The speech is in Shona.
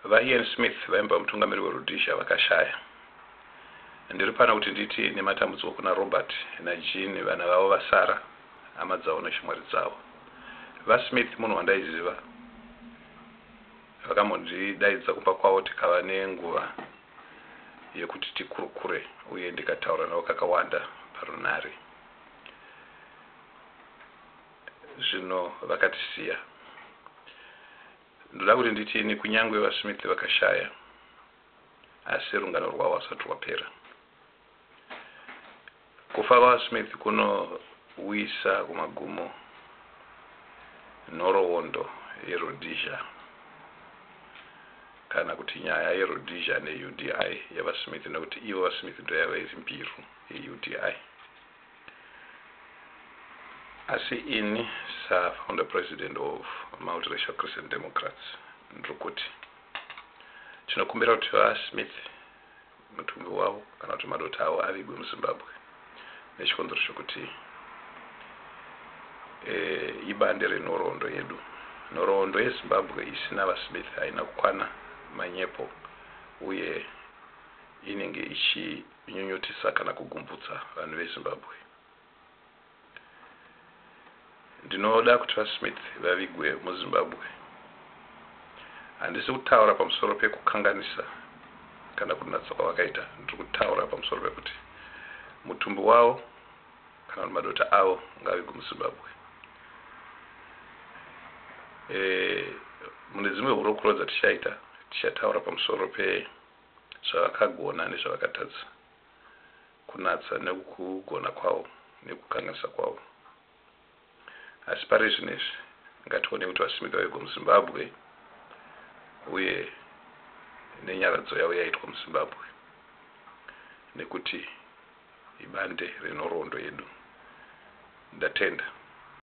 VaIan Smith vaimbova mutungamiri weRhodesia vakashaya. Ndiri pano kuti nditi nematambudziko kuna Robert naJean, vana vavo vasara, hama dzavo neshamwari dzavo. VaSmith munhu wandaiziva. Vakambondidaidza kumba kwavo tikava nenguva yekuti tikurukure uye ndikataura navo kakawanda parunhare. Zvino vakatisiya. Ndoda kuti nditi ini, kunyangwe vaSmith vakashaya, asi rungano rwavo hausati rwapera. Kufa kwaVaSmith kunouyisa kumagumo nhoroondo yeRhodesia, kana kuti nyaya yeRhodesia neUDI, yaVaSmith, nekuti ivo vaSmith ndoyavaive mbiru yeUDI. Asi ini sa founder president of Multiracial Christian Democrats ndiri kuti tinokumbira kuti Va Smith mutumbi wavo kana kuti madota avo avigwe muZimbabwe nechikonzero chekuti e, ibande renhoroondo yedu. Nhoroondo yeZimbabwe isina Va Smith haina kukwana manyepo uye inenge ichi Kunyunyutisa kana kugumvutsa vanhu veZimbabwe. Ndinoda kuti VaSmith vavigwe muZimbabwe. Handisi kutaura pamusoro pekukanganisa kana kunatsa kwavakaita. Ndiri kutaura pamusoro pekuti mutumbi wavo kana kuti madota avo ngavigwe muZimbabwe. E, mune dzimwe hurukuro dzatichaita tichataura pamusoro pe zvavakagona nezvavakatadza, kunatsa nekugona kwavo nekukanganisa kwavo. Asi pari zvinezvi ngationei kuti vasimika vego muZimbabwe uye nenyaradzo yavo yaitwa muZimbabwe nekuti ibande renhoroondo yedu. Ndatenda.